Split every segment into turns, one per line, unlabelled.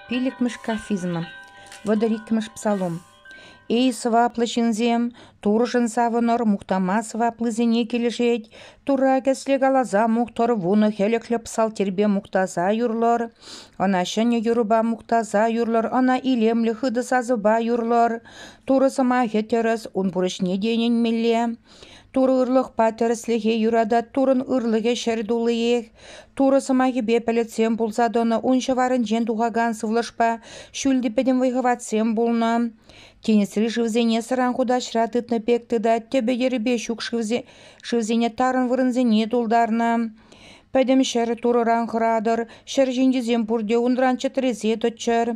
Пиллӗкмӗш кафизмӑ. Вӑтӑр иккӗмӗш псалом. Эй сӑваплӑ ҫынсем, Турӑшӑн савӑнӑр, мухтама сӑваплисене килӗшет, Тура кӗсле каласа мухтӑр, вунӑ хӗлӗхлӗ псалтирпе мухтаса юрлӑр, ӑна ҫӗнӗ юрӑпа мухтаса юрлӑр, ӑна илемлӗ хытӑ сасӑпа юрлӑр, Турӑ сӑмахӗ тӗрӗс, ун пурӑҫне те ӗненмелле. Турӑ ырлӑхпа тӗрӗслӗхе юратать. Туррӑн ырлӑхӗ ҫӗр туллиех. Турӑ сӑмахӗпе пӗлӗтсем пулса тӑнӑ, ун ҫӑварӗнчен тухакан сывлӑшпа ҫӳл те пӗтӗм вӑй-хӑватсем пулнӑ. Тинӗсри шывсене сӑран хутаҫра тытнӑ пек тытать, тӗпӗ-йӗрӗпе ҫук шывсене тарӑн вырӑнсене тултарнӑ. Пӗтӗм ҫӗр Турӑран хӑратӑр, ҫӗр ҫинчисем пурте унран чӗтресе тӑччӑр.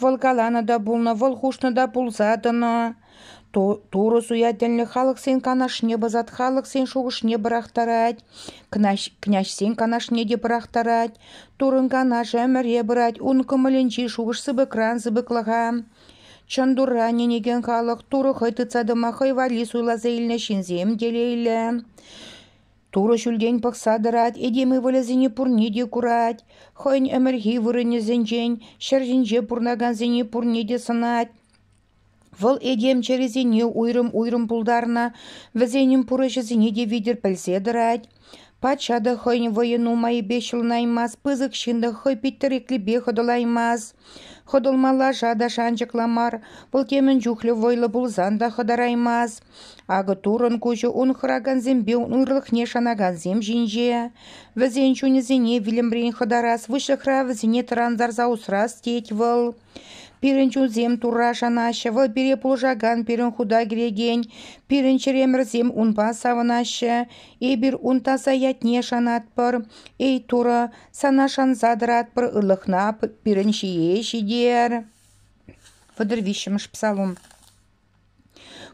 Вӑл каланӑ та пулнӑ, вӑл хушнӑ та пулса тӑнӑ. Турӑ суя тӗллӗн халӑхсен канашне пӑсать, халӑхсен шухӑшне пӑрахтарать, княҫсен канашне те пӑрахтарать. Туррӑн канашӗ ӗмӗре пырать, ун кӑмӑлӗнчи шухӑш сыпӑкран сыпӑклӑха. Чӑн Турра ӗненекен халӑх Турӑ хӑй тытса тӑма хӑй валли суйласа илнӗ ҫынсем телейлӗ. Турӑ ҫӳлтен пӑхса тӑрать, этем ывӑлӗсене пурне те курать. Хӑйӗн ӗмӗрхи вырӑнӗсенчен, ҫӗр ҫинче пурӑнакансене пурне те сӑнать. Вӑл этем чӗрисене уйрӑм-уйрӑм пултарнӑ, вӗсенӗн пурӑҫӑсене те витӗр пӗлсе тӑрать. Патша та хӑйӗн вӑйӗ нумайӗпе ҫӑлӑнаймасть, пысӑк ҫын та хӑй питтӗреклипе хӑтӑлаймасть. Хӑтӑлма лаша та шанчӑклӑ мар, вӑл темӗн чухлӗ вӑйлӑ пулсан та хӑтараймасть. Акӑ туррӑн куҫӗ ун хӑракансемпе ун ырлӑхне шанакансем ҫинче. Вӗсен чунӗсене вилӗмрен хӑтарас, выҫлӑхра вӗсене тӑрантарса усрас тет вӑл. Пирӗн чунсем Турра шанаҫҫӗ, вӑл пире пулӑшакан, пирӗн хута кӗрекен, пирӗн чӗремӗрсем унпа савӑнаҫҫӗ. Эпир ун таса ятне шанатпӑр. Эй Турӑ, сана шанса тӑратпӑр, ырлӑхна пирӗн ҫие ҫитер. Вӑтӑр виҫҫӗмӗш Псалом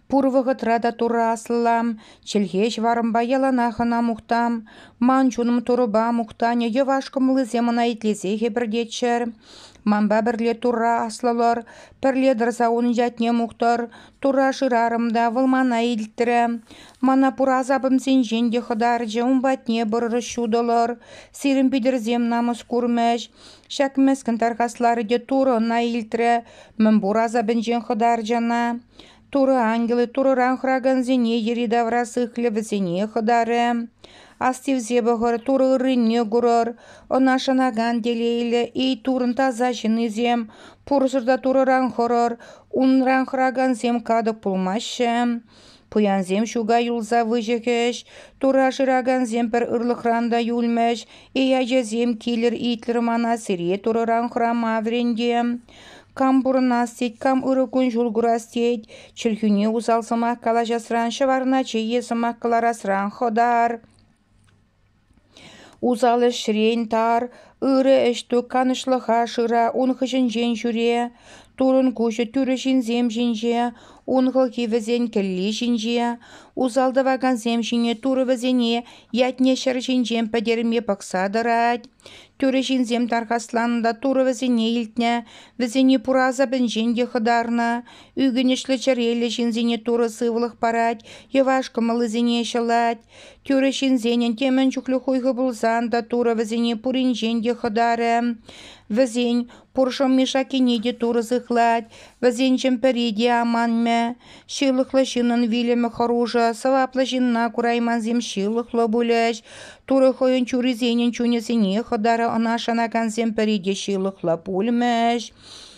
Пур вӑхӑтра та Турӑ аслӑлам, чӗлхе ҫӑварӑмпа яланах ӑна мухтам. Ман чунӑм Турӑпа мухтанӗ йӑваш кӑмӑллисем ӑна итлесе хӗпӗртеччӗр. Манпа пӗрле Турра аслӑлӑр, пӗрле тӑрса унӑн ятне мухтӑр. Турра шырарӑм та вӑл мана илтрӗ. Мана пур асапӑмсенчен те хӑтарчӗ, ун патне пырӑр ҫутӑлӑр. Сирӗн питӗрсем намӑс курмӗҫ. Ҫак мӗскӗн тархасларӗ те Турӑ ӑна илтрӗ, мӗнпур асапӗнчен хӑтарчӗ ӑна. Турӑ ангелӗ Турӑран хӑракансене йӗри-тавра сыхлӗ вӗсене хӑтарӗ. Астивсе пӑхӑр, Турӑ ыррине курӑр. Ӑна шанакан телейлӗ, эй Турӑн таса ҫыннисем, пурсӑр та Турӑран хӑрӑр, унран хӑракансем катӑк пулмаҫҫӗ. Пуянсем ҫука юлса выҫӑхӗҫ, тура шыракансем пӗр ырлӑхран та юлмӗҫ, и ачасем килӗр-итлӗр мана сире турӑран хӑрама вӗренте. Кам пурӑнас тет, кам ырӑ кун-ҫул курас тет, чӗлхӳне усал сӑмах калаҫасран ҫӑварначе е сӑмах кӑларасран хӑтар. Усал ӗҫрен тар, ырӑ ӗҫтӳк канӑҫлӑха шыра ун хыҫӗнчен ҫӳре, турӑн куҫӗ тӳрӗ ҫынсем ҫинче, ун хӑлхи вӗсен кӗлли ҫинче, усал тӑвакансем ҫине турӑ вӗсене ятне ҫӗр ҫинчен пӗтерме пӑхса тӑрать, тӳрӗ ҫынсем тархасланӑ та турӑ вӗсене илтнӗ, вӗсене пур асапӗнчен те хӑтарнӑ, ӳкӗнӗҫлӗ чӗреллӗ ҫынсене турӑ сывлӑх парать, йӑваш кӑмӑллисене ҫӑлать, Тӳрӗ ҫынсенӗн темӗн чухлӗ хуйхӑ пулсан та Турӑ вӗсене пуринчен те хӑтарӗ. Вӗсен пуршӑ Мишакине те Турӑ сыхлать, вӗсенчен пӗри те аманмӗ. Ҫылӑхлӑ ҫыннӑн вилӗмӗ хӑрушӑ, сӑваплӑ ҫынна кураймансем ҫылӑхлӑ пулӗҫ. Турӑ хӑйӗн чурисенӗн чунӗсене хӑтарӗ, ӑна шанакансем пӗри те ҫылӑхлӑ пулмӗҫ.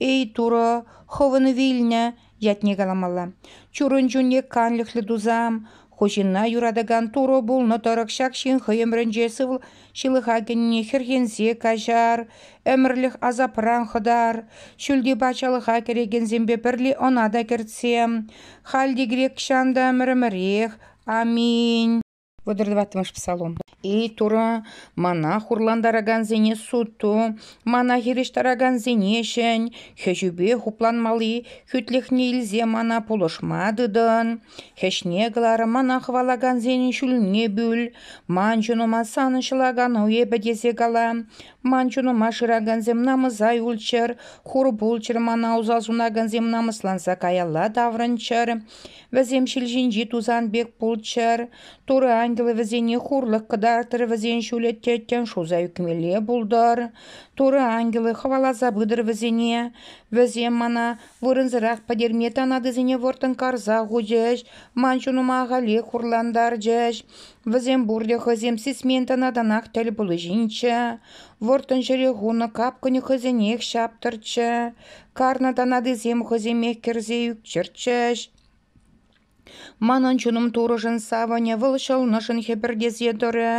«Эй, Турӑ, хӑвӑн вилнӗ!» ятне каламалла. Чурун чунне канлӗхлӗ тусам, ку ҫынна юратакан Турӑ пулнӑ тӑрӑх ҫак ҫын хӑй ӗмрӗнче сывл ҫылӑха кӗнине хӗрхенсе каҫар, ӗмӗрлӗх асапран хӑтар. Ҫӳлти патшалӑха кӗрекенсемпе пӗрле ӑна та кӗртсе. Халь те грек ҫан та ӗмӗрӗмӗрех. Аминь. Вӑтӑр тӑваттӑмӗш псалом. «Эй Турӑ, мана хурлантаракансене суд ту, мана хирӗҫтаракансене ҫӗн, хӗҫӳпе хупланмалли хӳтлӗхне илсе мана пулӑшма тытӑн. Хӗҫне кӑлар, мана хӑвалакансен ҫулне пӳл. Ман чунӑма санӑн ҫӑлакану эпӗ тесе кала. Ман чунӑма шыракансем намӑса юлччӑр, хур пулччӑр, мана уса сунакансем намӑсланса каялла таврӑнччӑр. Вӗсем ҫил ҫинчи тусан пек пулччӑр, Турӑ ангелӗ вӗсене хурлӑх кӑтартрӗ, вӗсен ҫулӗ тӗттӗм шуса ӳкмелле пултӑр. Турӑ ангелӗ хӑваласа пытӑр вӗсене. Вӗсем мана вырӑнсӑрах пӗтерме танатисене вӑрттӑн карса хучӗҫ, ман чунӑма ахалех хурлантарчӗҫ. Вӗсем пурте хӑйсем сисмен танатанах тӗл пулчинччӗ. Вӑрттӑн ҫӗре хунӑ капкӑнӗ хӑйсенех ҫаптӑрччӗ. Карнӑ танатисем хӑйсемех кӗрсе ӳкчӗрччӗҫ. Манӑн чунӑм турӑшӑн савӑнӗ, вӑл ҫӑлнӑшӑн хӗпӗртесе тӑрӗ.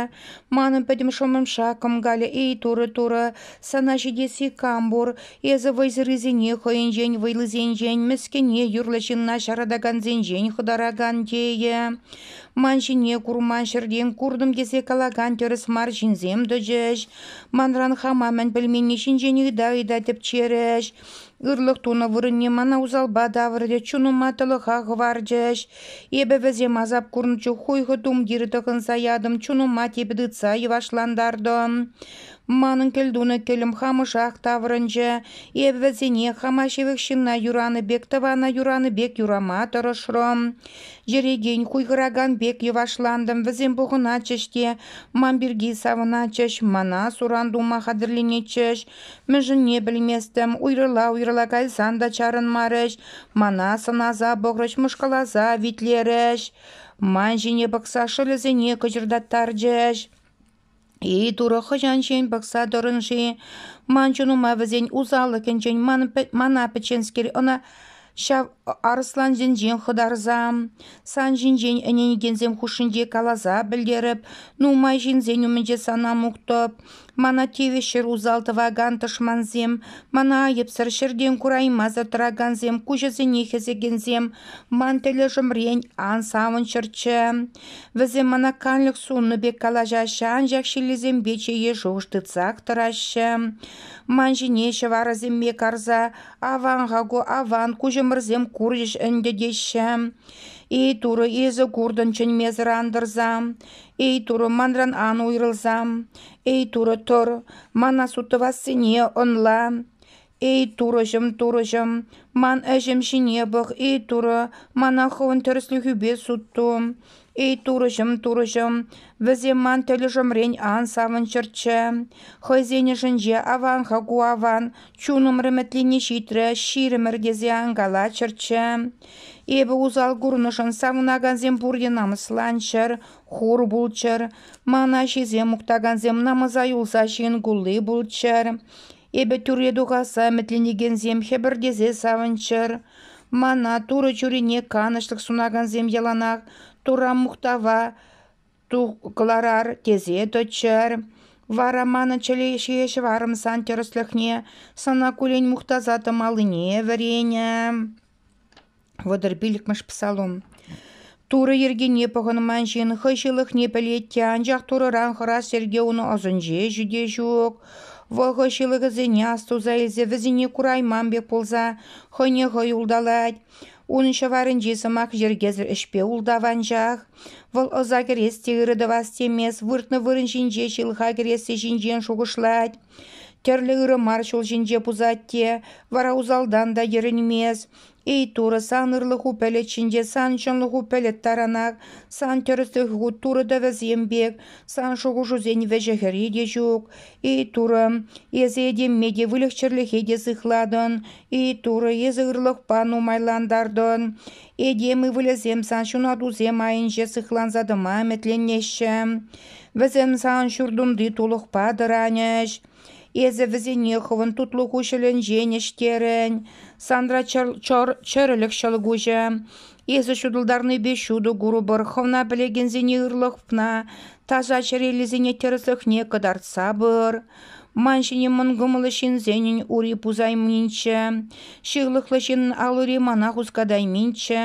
Манӑн пӗтӗм шӑмӑмша кӑмкалӗ, эй турӑ, турӑ, сана ҫитесси кам пур, эсӗ вӑйсӑррисене хӑйӗнчен, вӑйлисенчен, мӗскӗне юрлӑ ҫынна ҫаратакансенчен хӑтаракан тейӗ. Ман ҫине курман ҫӗртен куртӑм тесе калакан тӗрӗс мар ҫынсем тӑчӗҫ. Манран хама мӗн пӗлменни ҫинчен ыйта-ыйта тӗпчерӗҫ. Ырлӑх тунӑ вырӑнне мана усалпа тавӑрчӗ, чунӑма тӑлӑха хӑварчӗҫ. Эпӗ вӗсем асап курнӑ чух хуйхӑ тумтирӗ тӑхӑнса ятӑм, чунӑма типӗ тытса йӑвашлантартӑм. Манӑн кӗлтунӑ кӗлӗм хамӑшах таврӑнчӗ. Эпӗ вӗсене хама ҫывӑх ҫынна юранӑ пек, тӑвана юранӑ пек юрама тӑрӑшрӑм. Йӗрекен, хуйхӑракан пек йӑвашлантӑм. Вӗсем пухӑнатчӗҫ те ман пирки савӑнатчӗҫ, мана суран тума хатӗрленетчӗҫ. Мӗншӗнне пӗлместӗм, уйрӑла-уйрӑла кайсан та чарӑнмарӗҫ, мана сӑнаса пӑхрӗҫ, мӑшкӑласа витлерӗҫ, ман ҫине пӑхса шӑлӗсене кӑчӑртаттарчӗҫ. Ей-турӑ, хӑҫанччен пӑхса тӑрӑн-ши ман чунӑма вӗсен усаллӑхӗнчен мана пӗчченскер, ӑна ҫав арӑслансенчен хӑтарса? Сан ҫинчен ӗненекенсем хушшинче каласа пӗлтерӗп, нумай ҫынсен умӗнче сана мухтӑп. Мана тивӗҫҫӗр усал тӑвакан тӑшмансем, мана айӑпсӑр ҫӗртен кураймасӑр тӑракансем, куҫӗсене хӗсекенсем, ман тӗлӗшӗмрен ан савӑнччӑрччӗ. Вӗсем мана канлӗх суннӑ пек калаҫаҫҫӗ, анчах ҫиллисемпе чее шухӑш тытсах тӑраҫҫӗ. Ман ҫине ҫӑварӗсемпе карса «Аван, Хаку, аван, куҫӑмӑрсем курчӗҫ ӗнтӗ» теҫҫӗ. «Эй, Турӑ, эсӗ куртӑн чӗнмесӗр антӑрса. Эй, Турӑ, манран ан уйрӑлса. Эй, Турӑ, тӑр, мана сутӑвассине ӑнла». Эй, турӑҫӑм, турӑҫӑм, ман ӗҫӗм ҫине пӑх, эй, турӑ, мана хӑвӑн тӗрӗслӗхӳпе сут ту. Эй, турӑҫӑм, турӑҫӑм, вӗсем ман тӗлӗшӗмрен ан савӑнччӑрччӗ. Хӑйсен ӑшӗнче аван-ха ку аван, чунӑм ӗмӗтлене ҫитрӗ, ҫирӗмӗр тесе ан калаччӑрччӗ. Эпӗ усал курнӑшӑн савӑнакансем пурте намӑсланччӑр, хур пулччӑр, ман аҫисем мухтакансем намӑса юлса ҫын кулли пулччӑр. Эпӗ тӳрре тухасса ӗмӗтленекенсем хӗпӗртесе савӑнччӑр. Мана Турӑ чурине канӑҫлӑх сунакансем яланах Турра мухтава кӑларар тесе тӑччӑр. Вара манӑн чӗре ҫийӗ ҫӑварӑм сан тӗрӗслӗхне сана куллен мухтаса тӑмаллине вӗренӗ. Вӑтӑр пиллӗкмӗш псалом. Турӑ йӗркине пӑхӑнман ҫын хӑй ҫылӑхне пӗлет те, анчах Турӑран хӑрас йӗрке унӑн ӑсӗнче ҫӳте ҫук. Вӑл хӑй ҫылӑхӗсене астуса илсе вӗсене курайман пек пулса хӑйне хӑй улталать. Унӑн ҫӑварӗнчи сӑмах йӗркесӗр ӗҫпе ултаванчах. Вӑл ӑса кӗрес те ырӑ тӑвас темест, выртнӑ вырӑн ҫинче ҫылӑха кӗресси ҫинчен шухӑшлать. Тӗрлӗ ырӑ мар ҫул ҫинче пусать те, вара усалтан та йӗрӗнмест. Эй, Турӑ, сан ырлӑху пӗлӗт ҫинче сан чӑнлӑху пӗлӗт таранах, сан тӗрӗслӗху Турӑ тӗвӗсем пек, сан шухӑшусен вӗҫӗ-хӗрри те ҫук. Эй, Турӑ, эсӗ этемме те выльӑх-чӗрлӗхе те сыхлатӑн. Эй, Турӑ, эсӗ ырлӑхпа нумайлантартӑн. Этем ывӑлӗсем сан ҫунатусем айӗнче сыхланса тӑма ӗмӗтленеҫҫӗ. Вӗсем сан ҫуртунти тулӑхпа тӑранӗҫ. Эсӗ вӗсене хӑвӑн тутлӑ куҫӑлӗнчен ӗҫтерӗн, санра чӗрӗлӗх ҫӑлкуҫӗ. Эсӗ ҫутӑлтарнипе ҫутӑ курӑпӑр, хӑвна пӗлекенсене ырлӑхна, таса чӗреллисене тӗрӗслӗхне кӑтартса пыр. Ман ҫине мӑн кӑмӑллӑ ҫынсенӗн ури пусайминччӗ, ҫырлӑхлӑ ҫын ал-ури мана хускатайминччӗ.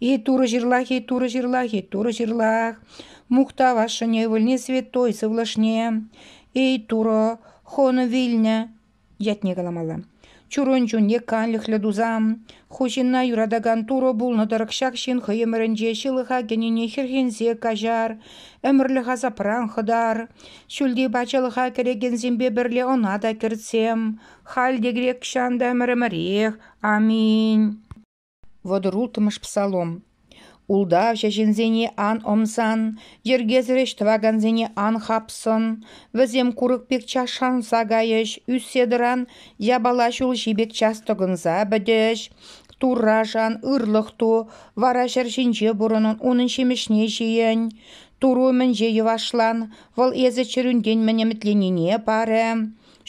И турӑ ҫырлах, и турӑ ҫырлах, и турӑ ҫырлах, мухтав ашшӗне, ывӑлне святой сывлӑшне, эй Турӑ, хӑнӑ вилнӗ ятне каламалла. Чурун чун е канлӗхлӗ тусан, ху ҫынна юратакан Турӑ пулнӑ-тӑрӑх ҫак ҫын хӑй ӗмӗрӗнче ҫылӑха кӗнине хӗрхенсе каҫар, ӗмӗрлӗх асапран хӑтар. Ҫӳлти патшалӑха кӗрекенсемпе пӗрле ӑна та кӗртсем. Халь те грек ҫан та ӗмӗрӗмӗрех. Аминь. Вӑтӑр улттӑмӗш псалом. Ултавҫӑ ҫынсене ан ӑмсан, йӗркесӗр ӗҫ тӑвакансене ан хапсан, вӗсем курӑк пек час шанса кайӗҫ, ӳссе тӑран япала ҫулҫи пек час тӑкӑнса пӗтӗҫ. Туррашан ырлӑх ту, вара ҫӗр ҫинче пурӑнӑн унӑн ҫимӗҫне ҫийӗн. Туру мӗнче йӑвашлан, вӑл эсӗ чӗрӳнтен мӗн ӗмӗтленине парӗ.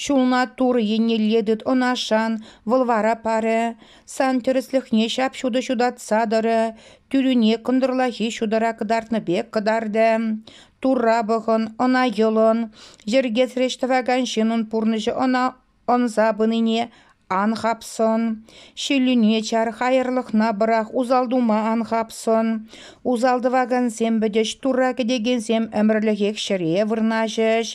Ҫулна тур еннелле тыт ӑнашан, вӑл вара парӗ. Сан тӗрӗслӗхне ҫап-ҫутӑ ҫутатса тӑрӗ, тӳрӳне кӑнтӑрлахи ҫутӑра кӑтартнӑ пек кӑтартӗ. Турра пӑхӑн, ӑна йӑлӑн. Йӗркесреш тӑвакан ҫыннӑн пурнӑҫӗ ӑна ӑнса пынине Ан хапсӑн, ҫиллӳне чар, хаярлӑхна пӑрах, усал тума ан хапсӑн. Усал тӑвакансем пӗтӗҫ, Турра кӗтекенсем ӗмӗрлӗхех ҫӗре вырнаҫӗҫ.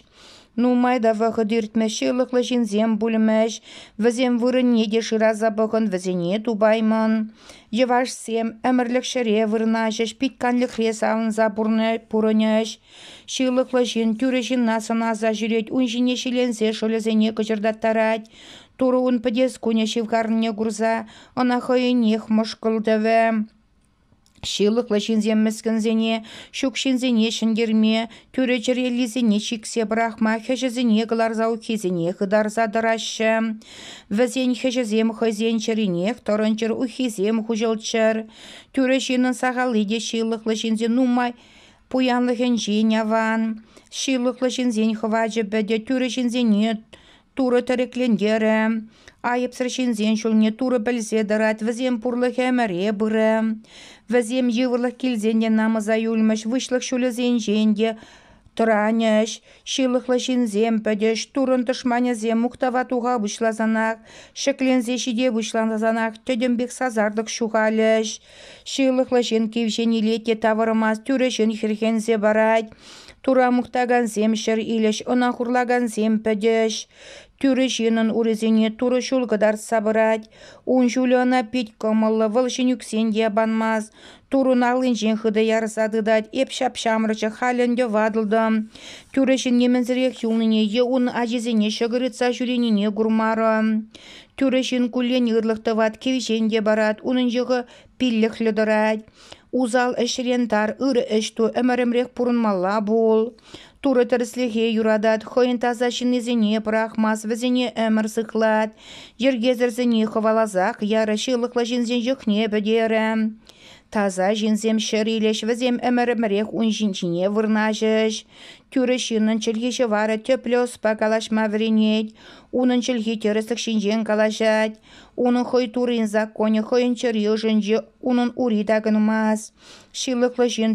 Нумай та вӑхӑт иртмӗҫ, ҫылӑхлӑ ҫынсем пулмӗҫ. Вӗсем вырӑнне те шыраса пӑхӑн, вӗсене тупаймӑн. Йӑвашсем ӗмӗрлӗх ҫӗре вырнаҫӗҫ, пит канлӗхре савӑнса пурӑнӗҫ. Ҫылӑхлӑ ҫын тӳрӗ ҫынна сӑнаса ҫӳрет, ун ҫине ҫиленсе шӑлӗсене кӑчӑртаттарать. Турӑ ун пӗтес кунӗ ҫывхарнине курса ӑна хӑйӗнех мӑшкӑлтӑвӗ. Ҫылӑхлӑ ҫынсем мӗскӗнсене, ҫук ҫынсене ҫӗнтерме, тӳрӗ чӗреллисене чиксе пӑрахма, хӗҫӗсене кӑларса уххисене хытарса тӑраҫҫӗ. Вӗсен хӗҫӗсем хӑйсен чӗринех тӑрӑнчӑр, уххисем хуҫӑлччӑр. Тӳрӗ ҫынӑн сахалли те ҫылӑхлӑ ҫынсен нумай Пуянлӑхӗнчен аван, ҫылӑхлӑ ҫынсен хӑвачӗпӗ те тӳрӗ ҫынсене Турӑ тӗреклентерӗ. Айӑпсӑр ҫынсен ҫулне Турӑ пӗлсе тӑрать, вӗсем пурлӑх ӗмӗре пырӗ. Вӗсем йывӑрлӑх килсен те намӑса юлмӗҫ, выҫлӑх ҫулӗсенчен те тӑранӗҫ. Ҫылӑхлӑ ҫынсем пӗтӗҫ, Туррӑн тӑшманӗсем мухтава туха пуҫласанах, ҫӗкленсе ҫите пуҫлансанах тӗтӗм пек сасартӑк ҫухалӗҫ. Ҫылӑхлӑ ҫын кивҫен илет те тавӑрмасть, тӳрӗ ҫын хӗрхенсе парать. Тура мухтакансем ҫӗр илӗҫ, ӑна хурлакансем пӗтӗҫ. Тӳрӗ ҫынӑн урисене турӑ ҫул кӑтартса пырать. Ун ҫулӗ ӑна пит кӑмӑллӑ, вӑл ҫын ӳксен те панмасть. Турун аллинчен хытӑ ярса тытать, эп ҫап-ҫамрӑкчӗ, халь ӗнтӗ ватӑлтӑм. Тӳрӗ ҫын нимӗнсӗрех юлнине е ун ачисене ҫӑкӑр ытса ҫӳренине курмарӑм. Тӳрӗ ҫын куллен ырлӑх тӑвать, кивҫен те парать, унӑн йӑхӗ пиллӗхлӗ тӑрать. Усал ӗҫрен тар, ырӑ ӗҫ ту, ӗмӗрӗмрех пурӑнмалла пул. Турӑ тӗрӗслӗхе юратать, хӑйӗн таса ҫыннисене пӑрахмасть, вӗсене ӗмӗр сыхлать. Йӗркесӗрсене хӑваласах ярӗ, ҫылӑхлӑ ҫынсен йӑхне пӗтерӗ. Таса ҫынсем ҫӗр илӗҫ, вӗсем ӗмӗрӗмрех ун ҫинчине вырнаҫӗҫ. Тӳрӗ ҫыннӑн чӗлхи ҫӑварӗ тӗплӗ ӑспа калаҫма вӗренет. Унӑн чӗлхи тӗрӗслӗх ҫинчен калаҫать. Унӑн хӑй Туррин законӗ хӑйӗн чӗри ӑшӗнче унӑн ури такӑнмасть. Ҫылӑхлӑ ҫын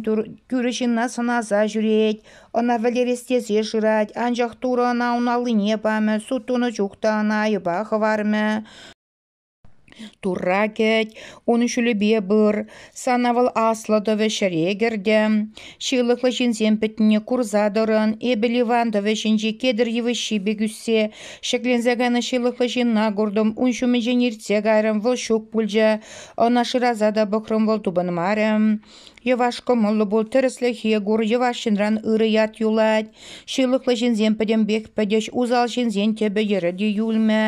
тӳрӗ ҫынна сӑнаса ҫӳрет, ӑна вӗлерес тесе шырать, анчах Турӑ ӑна ун аллине памӗ, сут тунӑ чух та ӑна айӑпа хӑвармӗ. Турра кӗт, ун ҫулӗпе пыр, сана вӑл аслӑ тӑвӗ ҫӗре кӗртӗм, ҫылӑхлӑ ҫынсем пӗтнине курса тӑрӑн, эпӗ Ливан тӑвӗ ҫинчи кедр йывӑҫҫи пек ӳссе ҫӗкленсе кайнӑ ҫылӑхлӑ ҫынна куртӑм, ун ҫумӗнчен иртсе кайрӑм, вӑл ҫук пулчӗ, ӑна шыраса та пӑхрӑм, вӑл тупӑнмарӗ. Йӑваш кӑмӑллӑ пул, тӗрӗслӗхе кур, йӑваш ҫынран ырӑ ят юлать, ҫылӑхлӑ ҫынсем пӗтӗмпех пӗтӗҫ, усал ҫынсен тӗпӗ-йӗрӗ те юлмӗ.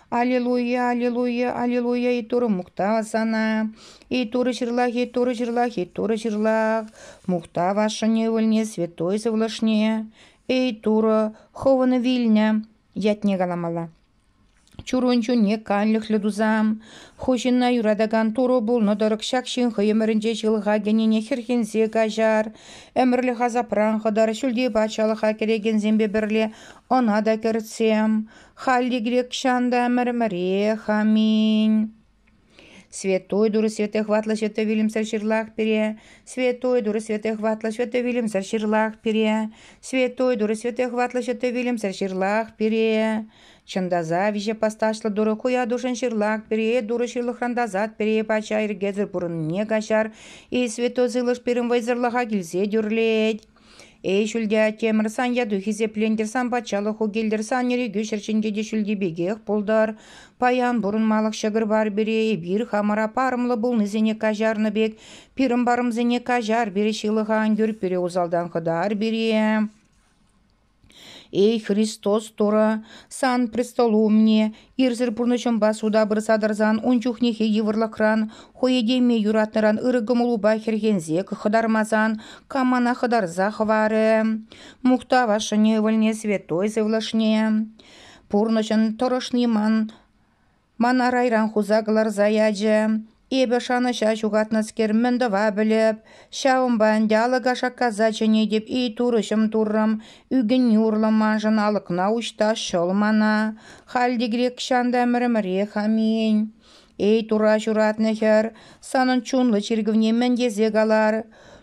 Аллилуйя, аллилуйя, аллилуйя, и Турӑ мухтав сана. И Турӑ ҫырлах, и Турӑ ҫырлах, и Турӑ ҫырлах. Мухтав ашшӗн ывӑлне, святой сывлӑшне. Эй, Турӑ, хӑвӑн вилнӗ, ятне каламалла. Чурун чунне канлӗхлӗ тусам, ху ҫынна юратакан Турӑ пулнӑ тӑрӑх ҫак ҫын хӑй ӗмӗрӗнче ҫылӑха кӗнине хӗрхенсе каҫар. Ӗмӗрлӗх асапран хӑтар, ҫӳлти патшалӑха кӗрекенсемпе пӗрле ӑна та кӗртсем. Халӗ грекҫан та ӗмӗр-ӗмӗрех аминь. Святой Турӑ Святой Хватлӑ Святой вилӗмсӗр ҫырлах пире. Святой Турӑ Святой Хватлӑ Святой вилӗмсӗр ҫырлах пире. Святой Турӑ Святой Хватлӑ Святой вилӗмсӗр ҫырлах пире. Чӑн та са виҫе пасташлӑ Турӑ куятушӑн ҫырлах пире, Турӑ ҫырлӑхран тасат пире, пача ирӗкесӗр пурӑннине каҫар, и святой сывлӑш пирӗн вӑйсӑрлӑха килсе тӳрлет. Эй, ҫӳлте аттемӗрсан, яту хисеплентӗрсан, патшалӑху килтӗрсан, ирӗкӳ ҫӗрчинче те ҫӳлти пекех пултӑр. Паян пурӑнмалӑх ҫӑкӑр бар пире эпир хамӑра парӑмлӑ пулнисене каҫарнӑ пек, пирӗн парӑмсене каҫар пире ҫылӑха ан кӳр, пире усалтан хӑтар пире. Эй, Христос Турӑ, сан престолу умне ирсӗр пурнӑҫӑмпа суда пырса тӑрсан ун чухнехи йывӑрлӑхран, хӑйӗтеме юратнӑран ырӑ кӑмӑлупа хӗрхенсех хӑтармасан кам мана хӑтарса хӑварӗ? Мухтав Ашшӗне, Ывӑлне, Святой Сывлӑшне! Пурнӑҫӑн тӑрӑшни ман Ман арайран хуса кӑларса ячӗ. Эпӗ шанӑҫа ҫухатнӑскер мӗн тӑва пӗлӗп. Ҫавӑнпа ӗнтӗ алӑка шаккаса чӗнетӗп, эй турӑҫӑм туррӑм, ӳкӗнни урлӑ маншӑн алӑкна уҫта ҫӑл мана. Халь тигрекҫан та ӗмӗрӗмӗрех аминь. Эй тура ҫуратнӑ хӗр, санӑн чунлӑ чиркӗвне мӗн тесе калар?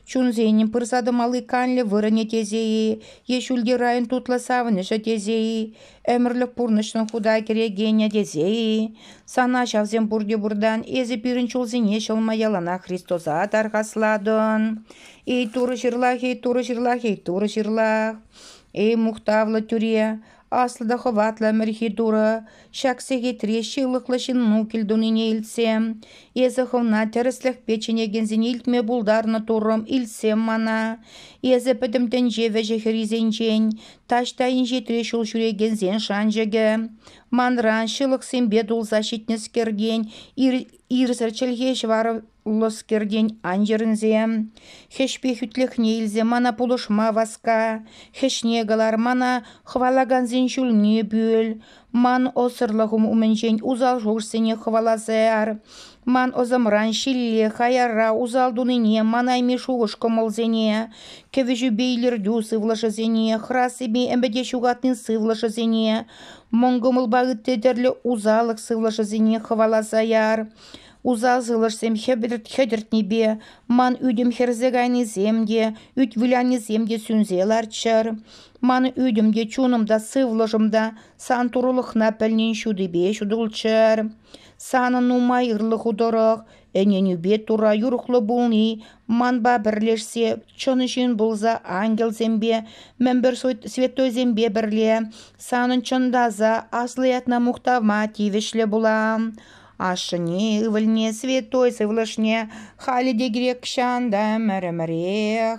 Чунсенӗн пырса тӑмалли канлӗ вырӑнӗ тесе-и е ҫӳлти район тутлӑ савӑнӑҫӗ тесе-и? Ӗмӗрлӗх пурнӑҫшӑн худа кӗрекенӗ тесе-и? Сана ҫавсем пурте пуртан, эсӗ пирӗн чулсене ҫӑлма яланах Христоса тархаслатӑн. Эй Турӑ ҫырлах, эй Турӑ ҫырлах, эй Турӑ ҫырлах. Эй мухтавлӑ тӳре, аслӑ та хӑватлӑ ӗмӗрхи Турӑ, ҫак сехетре ҫылӑхлӑ ҫынну килтунине илтсем, эсӗ хӑвна тӗрӗслӗхпе чӗнекенсене илтме пултарнӑ Туррӑм, илтсем мана. Эсӗ пӗтӗм тӗнче вӗҫӗ-хӗррисенчен, Таҫта инҫетре ҫул ҫӳрекенсен шанчӑкӗ, манран ҫылӑхсемпе тулса ҫитнӗскертен, ирсӗр чӗлхе ҫӑварлӑскертен ан йӗрӗнсе. Хӗҫпе хӳтлӗхне илсе мана пулӑшма васка, хӗҫне кӑлар, мана хӑвалакансен ҫулне пӳл, Ман ӑсӑрлӑхӑм умӗнчен усал шухӑшсене хӑваласаар. Ман ӑсӑмран ҫилле, хаярра усал тунине, манайми шухӑш-кӑмӑлсене, кӗвӗҫӳпе илӗртӳ сывлӑшӗсене, хӑрасипе ӗмӗте ҫухатни сывлӑшӗсене, мӑн кӑмӑлпа ытти тӗрлӗ усаллӑх сывлӑшӗсене хӑваласаар. Усал сывлӑшсем хӗтӗртнипе ман ӳтӗм хӗрсе кайнисем те, ӳт вылянисем те сӳнсе ларччӑр. Ман ӳтӗм те, чунӑм та, сывлӑшӑм та сан турлӑхна пӗлнин ҫутипе ҫутӑлччӑр. Санӑн нумайӑрлӑ ху тӑрӑх ӗненӳпе Турра юрӑхлӑ пулни манпа пӗрлешсе чӑн ҫын пулса ангелсемпе, мӗнпӗр святойсемпе пӗрле санӑн чӑнтаса аслӑ ятна мухтавма тивӗҫлӗ пула. Ашшӗне, ывӑлне, святой сывлӑшне халӗ те кирек чан та ӗмӗр-ӗмӗрех